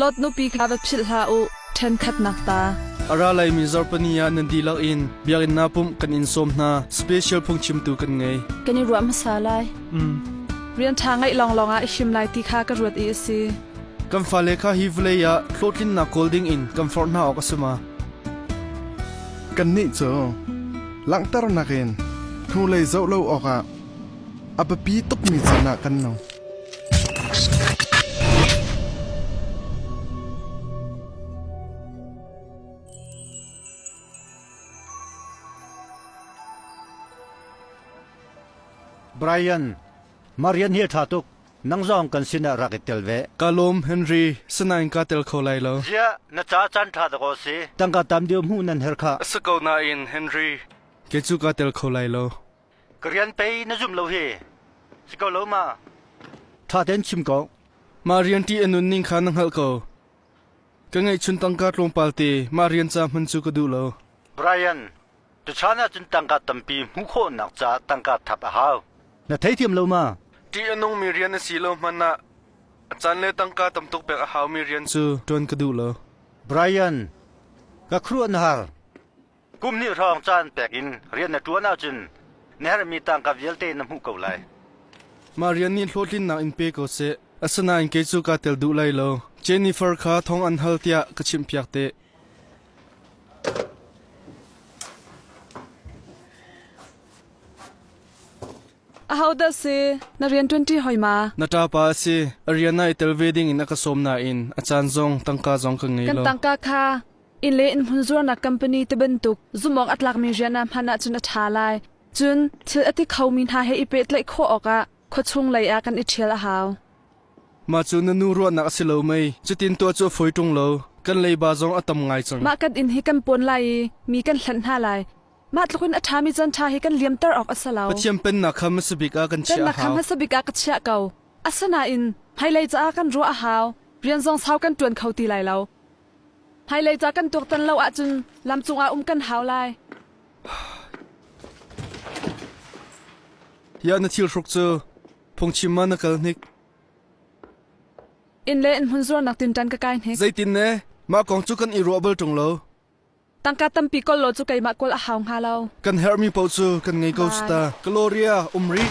Lot nupi kha va philh hlah u, ṭhenkhatnak ta. A ra leimi Zarpani ah nan dihlak in biakinn naa pumh kan in sawm hna. Special phungchimtu kan ngei. Kan i ruah hmasa lai. Mm. Rian ṭha ngeih lawnglawng ah i him lai ti kha ka ruat i a si. Kan fale kha hi vawlei ah hlawhtlinnak kawl ding in kan forh hna awk a si ma? Kannih cu langhternak in hnulei zoh lo awkah A biapi tukmi caan ah kan no. Brian, Marian hi tha tuk. Nang zong kan sinah rak i tel ve. Ka lawm Henry, sinain ka tel kho lai lo. Zia, na ca chan tha tuk aw si. Tangka tam dio hmu nan her kha. Sa ko nain Henry, ke cu ka tel kho lai lo. Ka rian pei na zum lo hi. Si ko lo ma? Ṭha tein chim ko. Mah rian ṭi a nunning kha na hngalh ko. Ka ngeihchun tangka tlawmpal te mah rian ca hman cu ka duh lo. Brian, tuchan ah cun tangka tampi hmuh khawhnak caah tangka thap a hau. Na theithiam lo ma? Ṭih a nungmi rian a si lo hmanh ah a caan le tangka tam tuk pek a haumi rian cu ṭuan ka duh lo. Brian, ka khuaruah na har. Kum hnih hrawng caan pek in rian na ṭuan ahcun na herhmi tangka vialte na hmuh ko lai. Mah rian nih hlawhtlinnak in pe ko seh. Asinain kei cu kaa tel duh lai lo. Jennifer kha thawng an hal tiah ka chimhpiak te. Ahodah si? Na rian ṭuanṭi hoi ma? Na ṭapa a si. A rian ah i tel ve ding in a ka sawm nain a caan zong tangka zong ka ngei kan lo. Kan tangka kha Inn le inn hmunzuarnak company tibantuk zumawk a tlakmi rian ah hman ahcun a ṭha lai. Cun thil a ti khomi hna he i pehtlaih khawh awkah khuachung lei ah kan i ṭhial a hau. Mah cu na nu ruahnak a si lo mei? Cutin tuah cu a fawi ṭung lo. Kan leiba zong a tam ngai cang. Mah kan inn hi kan pawn lai i mi kan hlenh hna lai. Mah tluk in a ṭhami caan ṭha hi kan liamter awk a si lo. Pathian Pennak kha hmasa bik ah kan chiah a hau. Pennak kha hmasa bik ah ka chiah ko. Asinain hmailei caah kan ruah a hau. Rian zong sau kan ṭuan kho ti lai lo. Hmailei ca kan tuaktan lo ahcun lam cungah um kan hau lai. Tiah na thilhruk cu phungchim ma na kal hnik? Inn le inn hmun zuarnak tinṭan ka kai hnik. Zeitin ne? Mah kong cu kan i ruah bal ṭung lo. Tangka tampi kol law cu keimah kawl a hau hnga lo. Kan herhmi paoh cu kan ngei ko su ta. Gloria, um rih.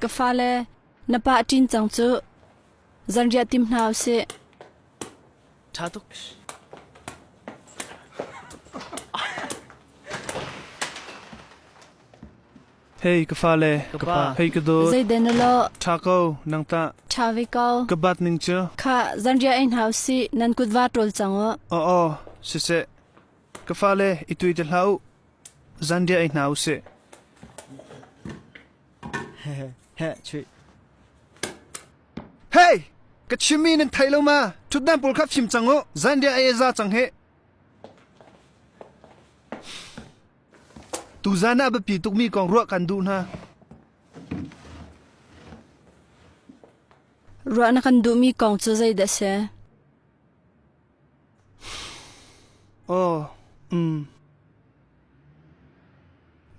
Ka fale, na pah ṭin cang cu. Zanriah tim hna u sih. ṭha tuk. Hei ka fale, ka pa, hei ka dawt. Zeiden na law? Ṭha ko, nang tah. Ṭha ve ko. Ka bat ning cu. Kha, zanriah ei hna u sih. Nan kutva ṭol cang u. Aw, aw, siseh. Ka fale i tui ti hlah u, zanriah ei hna u sih. Chuih. Hei! Ka chimmi nan theih lo ma? Ṭhutnak pawl kha fim cang u, zanriah ei a za cang hih. Tuzan ah biapi tukmi kong ruah kan duh hna. Ruah na kan duhmi kong cu zeidah a si?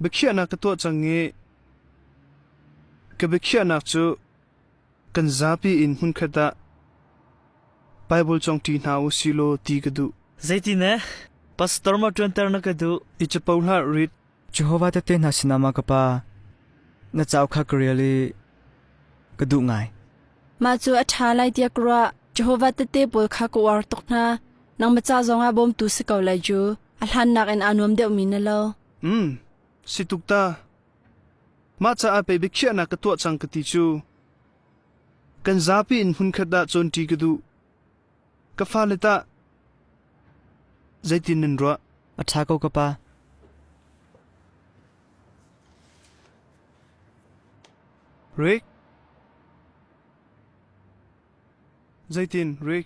Biakhiahnak ka tuah cang i ka biakhiahnak cu kan zapi in hmunkhat ah Baibal congṭi hna u si law ti ka duh. Zeiti ne? Pastor ma ṭuanter na ka duh? I capo hlah rit. Jehovah Tehte Hna sinah mah ka pa na cauk kha ka rel i ka duh ngai. Mah cu a ṭha lai tiah ka ruah. Jehovah Tehte pawl kha ka uar tuk hna. Nang maca zongah bawmtu si ko lai cu. A hlan nakin aa nuam deuhmi na lo. Um, si tuk ta. Mah caah pei biakhiahnak ka tuah cang ka ti cu. Kan zapi in hmunkhat dah cawnṭi ka duh. Ka fale tah zeitin nan ruah? A ṭha ko ka pa. Rick Zeitin, Rick?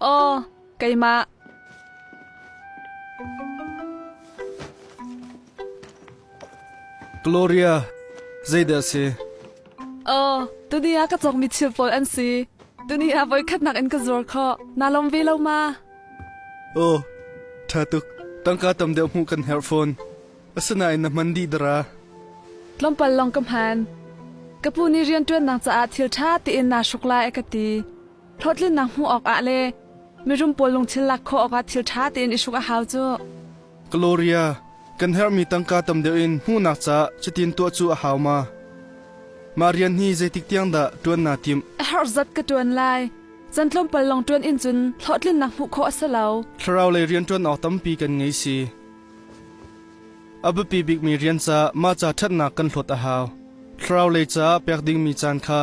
Aw, keimah. Gloria, zeidah a si? Aw, tuni ah ka cawkmi thil pawl an si. Tuni ah voikhatnak in ka zuar khawh. Naa lawm ve lo ma? Aw, ṭha tuk. Tangka tam deuh hmuh kan herh fawn. Asinain na hman dih dara? Tlawmpal lawng ka hman. Ka pu nih rianṭuannak caah thil ṭha tein naa hruk lai a ka ti. Hlawhtlinnak hmuh awkah le mirum pawl lungthin lak khawh awkah thil ṭha tein i hruk a hau cu. Gloria, kan herhmi tangka tam deuh in hmuhnak caah cutin tuah cu a hau ma? Mah rian hi zeitik tiang dah ṭuan naa timh? A herh zat ka ṭuan lai. Can tlawmpal lawng ṭuan in cun hlawhtlinnak hmuh khawh a si lo. Thlaraulei rian ṭuan awk tampi kan ngei si. A biapi bikmi rian caah mah ca ṭhatnak kan hlawt a hau. Thlaraulei caah pek dingmi caan kha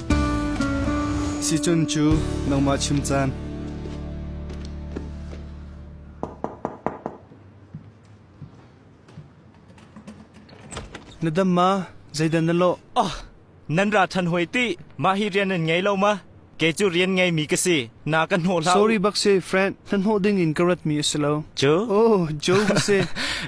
Sicun cu nangmah chim caan. Na dam ma? Zeidan na lawh? Oh, nan ra ṭhan hoi tih! Mah hi rian nan ngei lo ma? Kei cu rian ngeimi ka si. Na ka hnawh hlah. Sorry bak si, Fred. Na hnawh ding in ka ratmi a si lo. Jo? Oh, Joe bak si.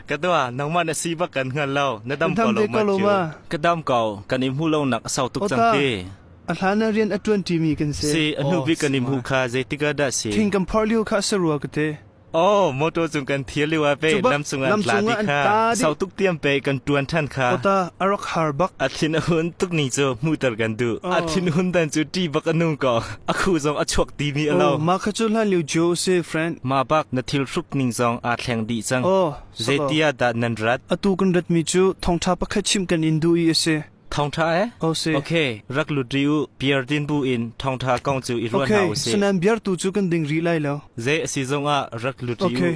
Ka tua, nangmah na si bak kan hngal lo. Na dam ko lo ma. Ka dam ko, kan im hu lo nak a sau tuk cang te. A hlan a rian a tuan timi kan si. Si, a hnu bi kan im hu kha, zeitika dah si. Thing kan phar liu kha a sarua ka te. Aw motor cung kan thir liu ah ve nam cung an tla di kha sau tuk tiam pe kan tuan than kha ota arak har bak a thin a hun tuk ni chu mu tar kan du a thin hun dan chu ti bak anu ko a khu zong a chuak ti mi alo ma kha chu hlan liu jo se friend ma bak na thil hrup ning zong a thleng di chang zetia da nan rat atu kan rat mi chu thongtha pakhat chim kan in du i ase Thawngṭha e? Ko si. Okay, rak lut ri u. Beer din bu in thawngṭha kong cu i ruat hna u Okay, si. sanan biar tu cu kan ding rih lai lo. Ze a si zong ah rak lut ri u. Okay.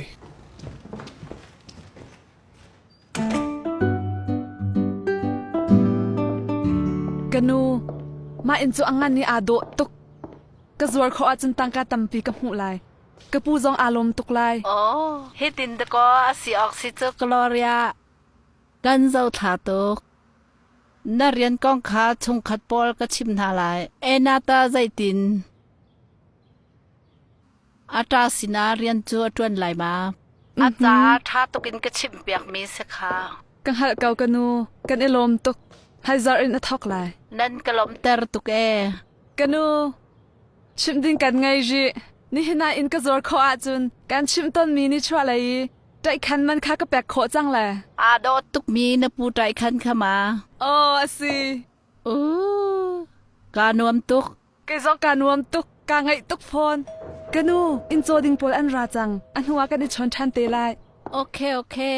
Kanu, ma in cu angan ni aa dawh tuk. Ka zuar kho ah cun tangka tampi ka hmuh lai. Ka pu zong aa lawm tuk lai. Aw, hitin dakaw a si awk si cu Gloria. Kan zothla tuk. Na rian kong kha chungkhat pawl ka chim hna lai. Enata zeitin? Ata sinah rian cu a ṭuan lai ma? A caah ṭha tukin ka chimpiakmi si kha. Ka hngalh ko ka nu, kan i lawm tuk. Haizarh in a thawk lai. Nan ka lawmter tuk e. Ka nu, chimh ding kan ngei rih. Nihin ah in ka zuar khawh ahcun kan chim tonmi ni chuahlei i Taikhan man kha ka pek khawh cang le? Aa dawt tukmi na pu taikhan kha ma? Aw, a si. Oo, kaa nuam tuk. Kei zong kaa nuam tuk. Kaa ngaih tuk fawn. Ka nu, inn caw ding pawl an ra cang. A hnuah kan i chawn ṭhan te lai. Okay, okay.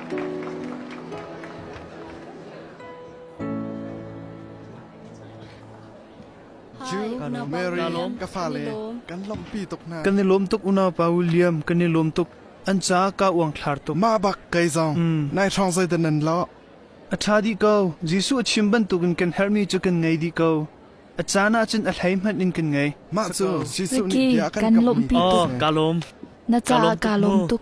ka fale kan lawmpi tuk hna kan i lawm tuk unaupa William kan i lawm tuk an ca ka uang thlar tuk ma bak kai zong nai hrong zoi dan nan lo a tha di ko Jesu a chim bantukin kan hermi cu kan ngei di ko a caan ah cun a hlei hmanh in kan ngei mah cu Jesu nih bia kan kan lawmpi tuk ka lawm na ca ka lawm tuk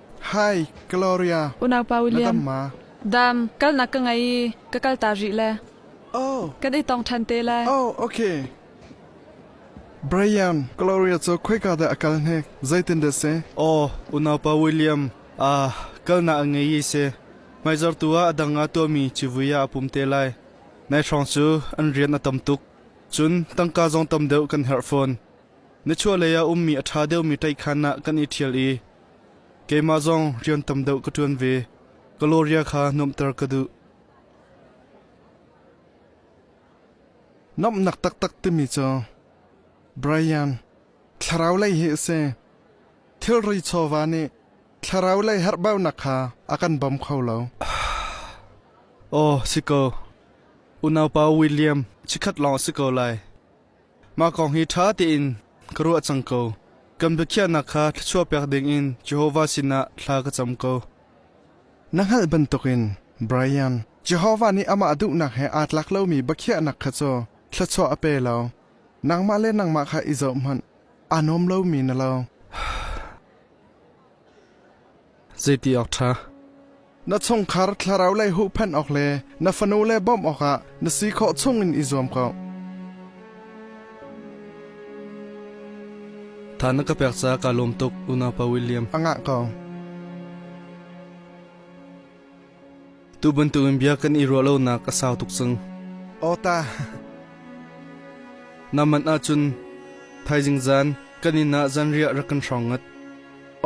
Hi, Gloria. Unaupa William. Dam, kalnak ka ngei i ka kal ta rih le. Oh. Kan i tong ṭhan te le. Oh, okay. Brian, Gloria cu khoika dah a kal ne? Zeitin dah se? Oh, unaupa William. Ah, kalna a ngei i se. Hmaizar tu ah dang a tuahmi civui ah a pum te lai. Nai hrong cu an rian a tam tuk. Cun tangka zong tam deuh kan herh fawn. Nichuahlei ah ummi a ṭha deuhmi ṭaihkhan ah kan i ṭhial i keimah zong rian tam deuh ka ṭuan ve. Gloria kha nuamhter ka duh. Nomhnak taktak timi cu Brian thlaraulei hi a si. Thilri chawva nih thlaraulei herhbaunak kha a kan bawm kho lo. Aw si ko. Unaupa William chikkhat lawng a si ko lai. Mah kong hi ṭha tein ka ruah cang ko. Kan biakhiahnak kha thluachuahpiak dingin Jehovah sinah thla ka cam ko. Na hngalh bantukin Brian, Jehovah nih amah duhnak he aa tlak lomi biakhiahnak kha cu thluachuah a pe lo. Nangmah le nangmah kha i zoh hmanh, aa nuam lomi na lo. Zeiti awk ṭha? Na chungkhar thlaraulei huhphenh awk le na fanule bawmh awkah na si khawh chungin i zuam ko. Tha na ka pek ca kaa lawm tuk unaupa William. A ngah ko. Tu bantukin bia kan i ruah lonak a sau tuk cang. Aw ta. Naman ahcun thaizing zan kan inn ah zanriah rak kan hrong ngat.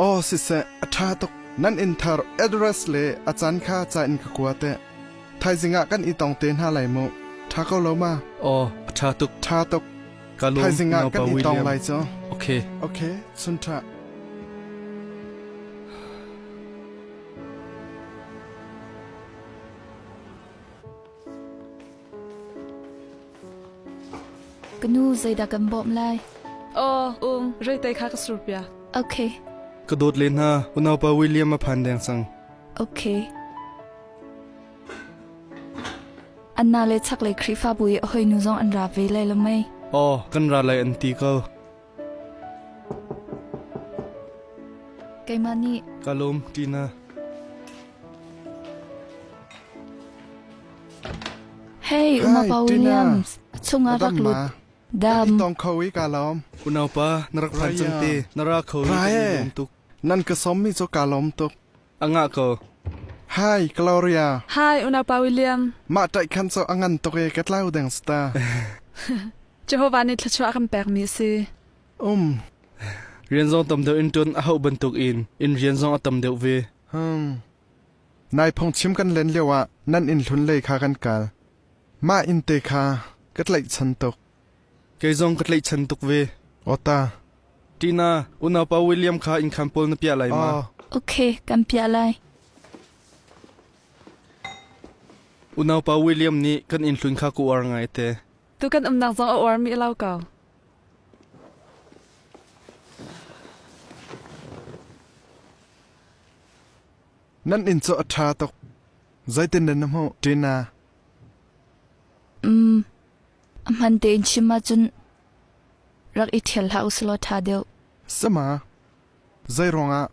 Aw siseh, a ṭha tuk. Nan inn thar address le a can kha ca in ka kua te. Thaizing ah kan i tong te hna lai mu. Ṭha ko lo ma. Aw, a ṭha tuk. Ṭha tuk. Ka lawm thaizing ah kan i tong lai cu. Okay. Okay, sun ṭha. Kanu zeidah kan bawm lai? Aw, Ung, reitai kha ka sur pia. Okay. Ka dawt le hna, unaupa William a phan deng sang. Okay. Anna le chak le Khrifa bui hoi nu zong an ra ve lai lo mai. Aw, kan ra lai an ti ko. Keimah nih ka lawm Tina. Hei Umapa Williams chungah rak lut. Dam. Tong kho i ka lawm. Unaupa na rak phan cang te na ra kho i ka lawm tuk. Nan ka som mi cho ka lawm tuk. A ngah ko. Hi, Gloria. Hi, unaupa William. Mah taih khan cu a ngan tuk e ka tlau deng sta. Jehovah nih thluachuah kan pekmi a si. Um. Rian zong tam deuh in tun a hau bantuk in in rian zong a tam deuh ve. Hmm. Nai phung chim kan len lio ah nan in hlun lei kha kan kal. Mah in te kha ka tlaih chan tuk. Kei zong ka tlaihchan tuk ve. Awta. Tina, unaupa William kha inn khan pawl na piah lai ma? Ok, kan piah lai. Unaupa William nih kan innhlun kha ka uar ngai te. Tu kan umnak zong a uarmi a lo ko. Nan inn cu a ṭha tuk. Zeitin na na hmuh, Tina? Um, A hman tein chim ahcun rak i ṭhial hlah u sulaw ṭha deuh. Sama, zei ruangah?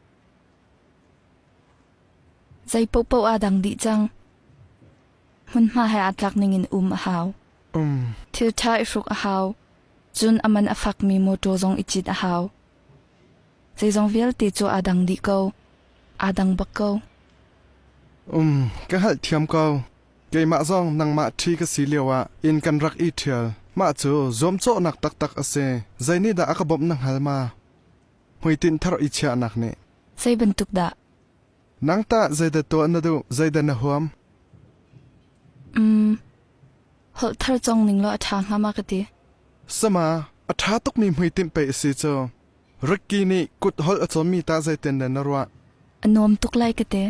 Zei paohpaoh aa dang dih cang. Hmunhma he aa tlak ningin um a hau. Um. Thilṭha i hruk a hau. Cun a man a fakmi mawṭaw zong i cit a hau. Zeizong vialte cu aa dang dih ko. Aa dang bak ko. Um, ka hngalhthiam ko. Keimah zong nangmah ṭhi ka si lioah inn kan rak i ṭhial. Mah cu zuamcawhnak taktak a si. Zeinihdah a ka bawmh na hngal ma? Hmuitinh thar i chiahnak nih. Zei bantuk dah? Nang tah zeidah tuah na duh? Zeidah na huam? Um, holh thar cong ning law a ṭha hnga ma ka ti. Sama, a ṭha tukmi hmuitinh pei a si cu. Ricky nih kut holh a cawmmi ta zeitin dah na ruah? A nuam tuk lai ka ti.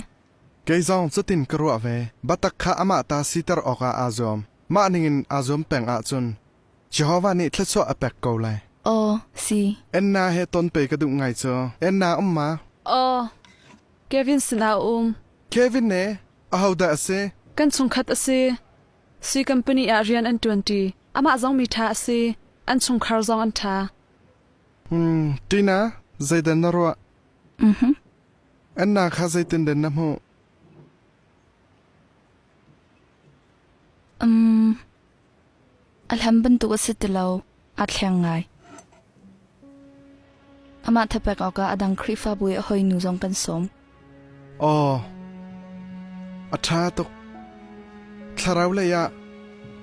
Kei zong cutin ka ruah ve. Batak kha amah ta siter awkah aa zuam. Mah ningin aa zuam peng ahcun Jehovah nih thluachuah a pek ko lai. Aw si. Anna he ton pe ka duh ngai cu. Anna um ma? Aw. Kevin sinah a um. Kevin ne? Ahodah a si? Kan chungkhat a si. Sui company ah rian an ṭuanṭi. Amah zong mi ṭha a si. An chungkhar zong an ṭha. Hmm, Tina, zeidah na ruah? Annak kha zeitinden na hmuh? Um, a hlan bantuk a si ti lo. Aa thleng ngai. Amah thapek awkah a dang Khrihfabu i a hoinu zong kan sawm. Aw, a ṭha tuk. Thlarau lei ah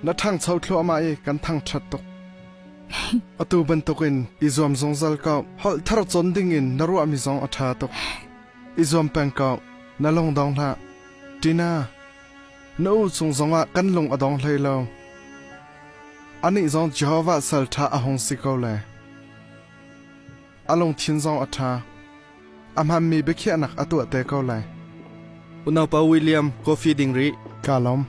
na ṭhangcho thluahmah i kan thangṭhat tuk. Atu bantukin i zuam zungzal ko. Holh thar cawn dingin na ruahmi zong a ṭha tuk. I zuam peng ko. Na lung dong hlah. Tina, na u cung zongah kan lung a dong hlei lo. Anih zong Jehovah sal ṭha a hung si ko le. A lungthin zong a ṭha. A hmanmi biakhiahnak a tuah te ko le. Unaupa William, coffee ding rih. Ka lawm.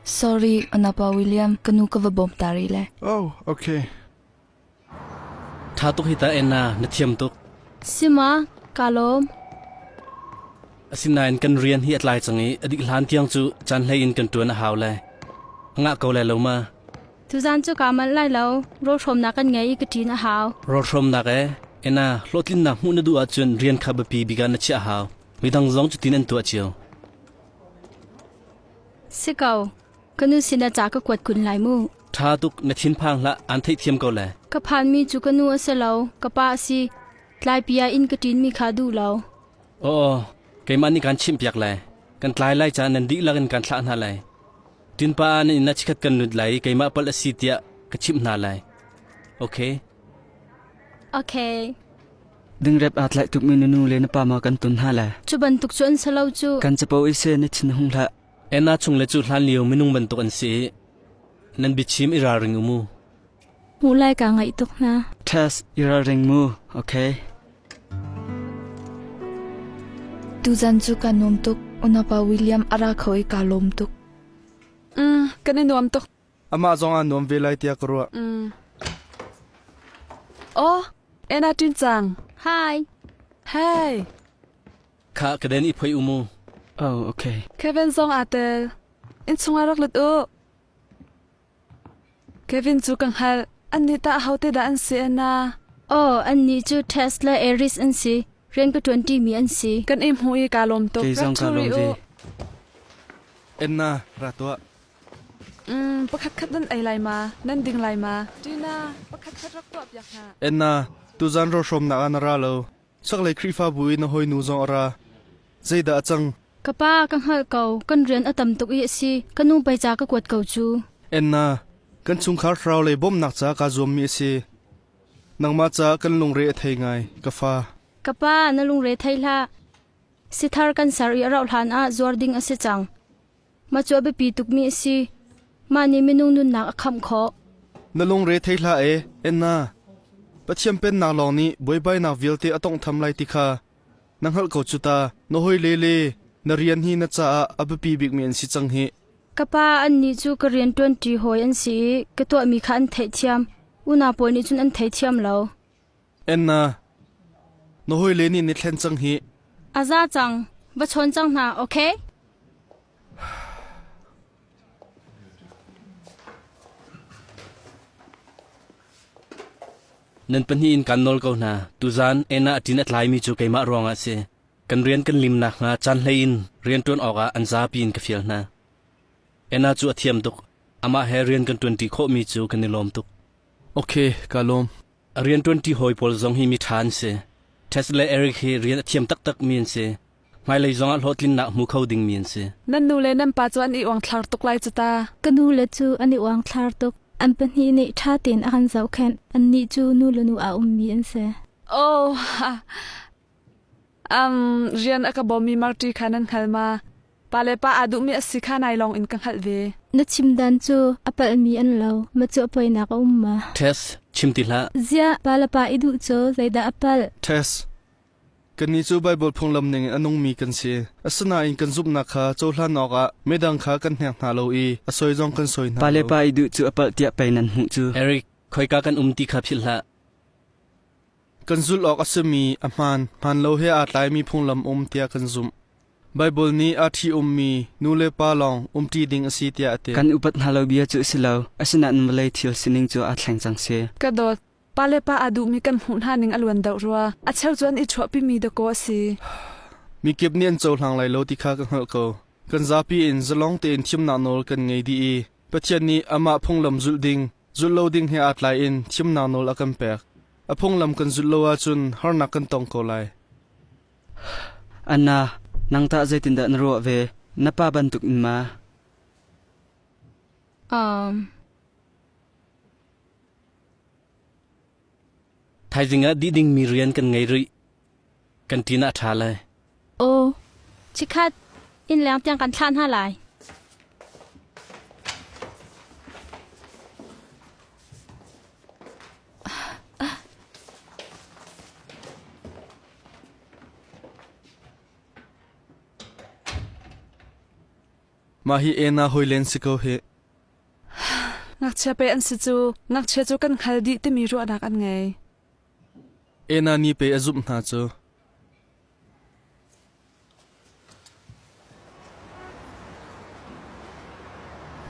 Sorry, Anapa William, ka nu ka va bawm ta rih le. Oh, okay. Tha tuk hi ta ena na thiam tuk. Sima, ka lawm. Asinain kan rian hi atlai cang i adik hlan tiang cu chan hlei in kan tuan a hau le. Nga ko le lo ma. Tuzan cu ka man lai lo, ro hrom na kan ngei i ka tin a hau. Ro hrom nak e, ena hlawtlin na hmu na du ah cun rian kha bipi biga na chia hau. Midang zong cu tin an tua chiu. Si ko, ka nu sinah ca ka kuat kun lai mu. Ṭha tuk na thinphang hlah aan theihthiam ko le. Ka phanmi cu ka nu a si lo, ka pa a si. Tlaipi ah inn ka ṭinmi kha duh lo. Aw, keimah nih kaan chimhpiak lai. Kan tlai lai caan nan dihlak in kaan thlah hna lai. Tinpa na inn ah chikkhat kan lut lai i keimah palh a si tiah ka chimh hna lai. Okay. Okay. Dingrep aa tlaih tukmi na nu le na pa ma kan tun hna le. Cu bantuk cu an si lo cu. Kan capo i se na thin hung hlah. Emma chung le cu hlan lio minung bantuk an si. Nan biachim i ralring u mu. Mu lai ka ngaih tuk hna. Tess, i ralring mu. Okay. Tuzan cu ka nuam tuk. Unapa William ara kho i ka lawm tuk. Mm, kan i nuam tuk. Amah zongah nuam ve lai tiah ka ruah. Mm. Aw, Anna Tin Cang. Hi. Hey. Kha kaden i phoi u mu. Oh, okay. Kevin zong aa tel. In chungah rak lut u. Kevin cu ka hngalh. An nih ta hote da an si Anna. Oh, an ni cu Tesla Eris an si. Rian ka 20 mi an si. Kan im hu i ka lom tuk. Kei zong ka lom ve. Anna, ra tuah. Pakhatkhat nan ei lai ma? Nan ding lai ma? Tina, pakhatkhat rak tuahpiak hna. Enna, tuzan rohrawmnak ah na ra lo. Chaklei Khrihfabu i na hawinu zong a ra. Zeidah a cang? Ka pa, ka hngalh ko. Kan rian a tam tuk i a si. Ka nu pei ca ka kuat ko cu. Enna, kan chungkhar thlarau lei bawmhnak ca kaa zuammi a si. Nangmah ca kan lungre a thei ngai, ka fa. Ka pa, na lungre thei hlah. Sithar kan ser i a rauh hlan ah zuar ding a si cang. Macu a biapi tukmi a si. Mah nih minung nunnak a khamh khawh. Na lungre thei hlah e, Anna. Pathian Pennak lawng nih buaibainak vialte a tawnghtham lai ti kha na hngalh ko cu ta. Na hawile le na rian hi na caah a biapi bikmi an si cang hih. Ka pa, annih cu ka rian ṭuanṭi hawi an si i ka tuahmi kha an theihthiam. Unau pawl nih cun an thei thiam lo. Enna, na hawile nih na thlen cang hi. A za cang. Va chawn cang hna, ok? Nan pahnih in kan nawl ko hna. Tuzan Enna ṭin a tlaimi cu keimah ruangah a si. Kan rian kan lim nakhnga caan hlei in rianṭuan awkah an zapi in ka fial hna. Enna cu a thiam tuk. Amah he rian kan ṭuanṭi khawhmi cu kan i lawm tuk. Ok, kaa lawm. A rian ṭuanṭi hawi pawl zong hi miṭha an si. Tes le Eric hi rian a thiam taktakmi an si. Hmailei zongah hlawhtlinnak hmu kho dingmi an si. Nan nu le nan pa cu an i uangthlar tuk lai cu ta. Ka nu le cu an i uangthlar tuk. An pahnih nih ṭha tein a kan zohkhenh. Annih cu nu le nu a ummi an si. Aw! Um, rian a ka bawmmi Marti kha nan hngal ma? Pale pa aa duhmi a si kha nai lawng in ka hngalh ve. Na chimdan cu a palhmi an lo, macuah poinak a um ma? Tess, chim ti hlah. Zia, pale pa i duh cu zeidah a palh? Tess, kannih cu Baibal phunglam ningin a nungmi kan si. Asinain kan zumhnak kha cohlan awkah midang kha kan hnek hna lo i a soi zong kan soi hna Pale lo. pa i duh cu a palh tiah pei nan hmuh cu. Eric, khoika kan um ti kha philh hlah. Kan zulh awk a simi a hmaan hmaanlo he aa tlaimi phunglam um tiah kan zumh. Baibal nih aa ṭhi-ummi nulepa lawng umṭi ding a si tiah a ti. Kan upat hna lo bia cu a si lo, asinain vawlei thil sining cu aa thleng cang si. Ka dawt, pale pa aa duhmi kan hmuh hna ning a luan deuh rua. A cheu cun i chuahpimi dakaw a si. Mikip nih an cohlang lai lo ti kha ka hngalh ko. Kan zapi in zalong tein thimnak nawl kan ngei dih i Pathian nih amah phunglam zulh ding, zulh lo ding he aa tlaiin thimnak nawl a kan pek. A phunglam kan zulh lo ahcun harnak kan tong ko lai. Anna, nang tah zeitindah na ruah ve? Na pa bantuk in ma? Um. Thaizing ah dih dingmi rian kan ngei rih. Kan ṭin ah a ṭha lai. Aw, chikkhat, innleng tiang kan thlah hna lai. Mah hi ena hoi len si ko hi. Ngakchia pe an si cu, ngakchia cu kan khal dih timi ruahnak an ngei. Enani pe a zumh hna cu.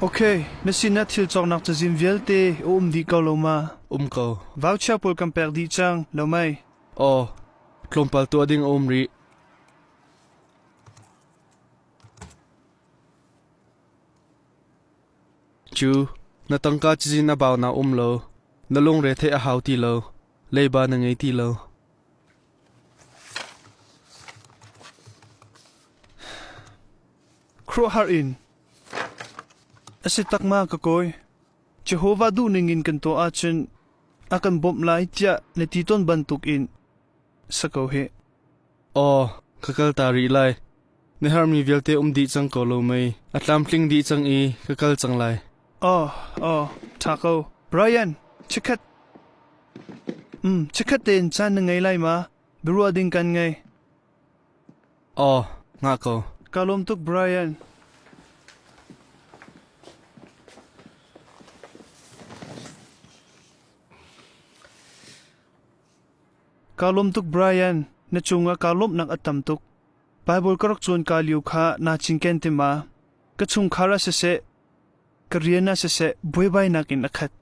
Ok, na sinah thil cawknak cazin vialte a um dih ko lo ma? Um ko. Vauchia pawl kan pek dih cang, lo mei? Aw, tlawmpal tuah ding a um rih. Cu, na tangka cizin a bau na um lo. Na lungre theih a hau ti lo. Leiba na ngei ti lo. Khuahar in a si takma ka kawi. Jehovah duhning in kan tuah ahcun a kan bawmh lai tiah na ti ton bantuk in sa ko hih. Aw, ka kal ta rih lai. Na herhmi vialte um dih cang ko lo mei? A tlamtling dih cang i ka kal cang lai. Aw, aw, ṭha ko. Brian, chikkhat. Um, chikkhat tein caan na ngei lai ma? Biaruah ding kan ngei. Aw, nga ko. Ka lawm tuk Brian. Kaa lawm tuk Brian, na cungah kaa lawmhnak a tam tuk. Baibal ka rak cawn kaa lio kha naa cinken ti ma? Ka chungkhar ah siseh, ka rian ah siseh buaibainak in a khat.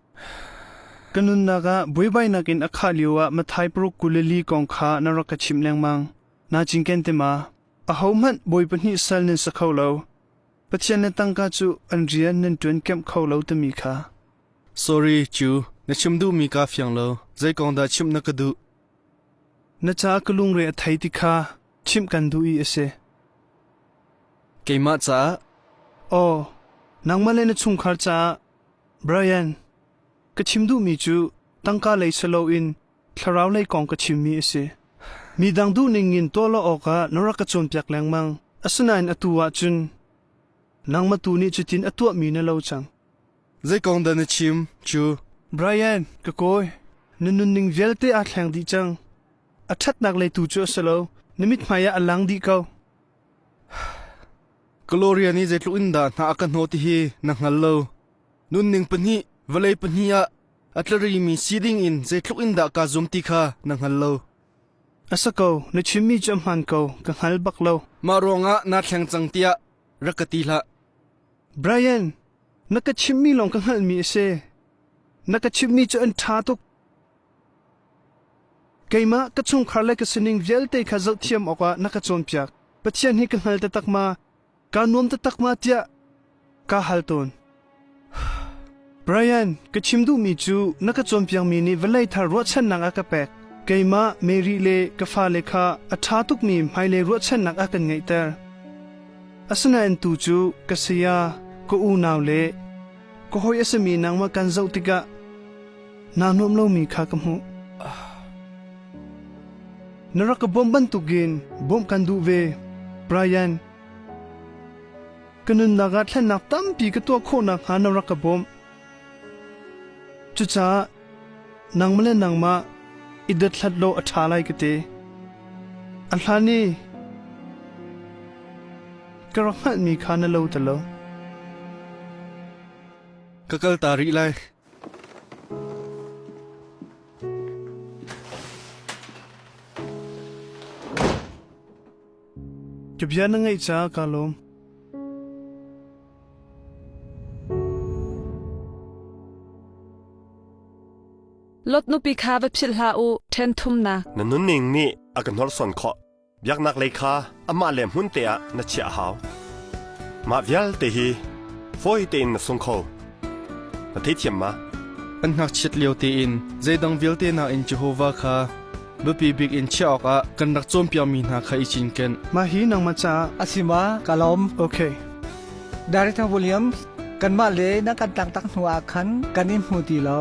Ka nunnak ah buaibainak in a khah lioah Mathai paruk kul le li kong kha na rak ka chimh lengmang. Naa cinken ti ma? Ahohmanh bawi pahnih sal nan si kho lo. Pathian le tangka cu an rian nan ṭuan kamh kho lo timi kha. Sorry, cu na chim duhmi kaa fiang lo. Zei kong dah chimh na ka duh? Na caah ka lungre a thei ti kha chimh kan duh i a si. Keimah caah? Aw, nangmah le na chungkhar caah. Brian, ka chim duhmi cu tangka lei silo in thlaraulei kong ka chimmi a si. Midang duhning in tuah lo awkah na rak ka cawnpiak lengmang. Asinain atu ah cun nangmah tu nih cutin a tuahmi na lo cang. Zei kong dah na chim cu? Brian, ka kawi, na nunning vialte aa thleng dih cang. A ṭhatnak lei tu cu a si lo, na mithmai ah a lang dih ko. Gloria nih zeitluk in dah hna a ka hnawh ti hi na hngal lo. Nunning pahnih, vawlei pahnih ah A tlarimi si dingin zeitluk in dah kaa zum ti kha na hngal lo. A si ko, na chimmi cu a hmaan ko, ka hngal bak lo. Mah ruangah naa thleng cang tiah rak ka ti hlah. Brian, na ka chimmi lawng ka hngalhmi a si. Na ka chimmi cu an ṭha tuk. Keimah ka chungkhar le ka sining vialte kha zohthiam awkah na ka cawnpiak. Pathian hi ka hngal taktak ma? Kaa nuam taktak ma tiah kaa hal tawn. Brian, ka chim duhmi cu na ka cawnpiakmi nih vawlei thar ruahchannak a ka pek. Keimah Mary le ka fale kha a ṭha tukmi hmailei ruahchannak a kan ngeihter. Asinain tu cu ka saya, ka unau le ka hawi a simi nangmah kan zoh tikah naa nuam lomi kha ka hmuh. Na rak ka bawmh bantukin bawmh kan duh ve, Brian. Ka nunnak ah thlennak tampi ka tuah khawh nakhnga na rak ka bawmh. Cucaah nangmah le nangmah i dothlat law a ṭha lai ka ti. A hlan i ka rak hngalhmi kha na lo ta lo. Ka kalta rih lai. Ka bia na ngaih caah kaa lawm. Lot nupi kha va philh hlah u, ṭhen thumnak. Na nunning nih a ka hnorsuan khawh. Biaknaklei kha amahle hmunte ah na chiah a hau. Mah vialte hi fawi tein na sung kho. Na theithiam ma? An ngakchiat lio tein zeidang vialte nakin Jehovah kha biapi bik in chiah awkah kan rak cawnpiakmi hna kha i cinken. Mah hi nangmah caah a si ma? Ka lawm. Okay. Daritha Williams, kanmah le na kan taktak hnuah khan kan in hmu ti lo.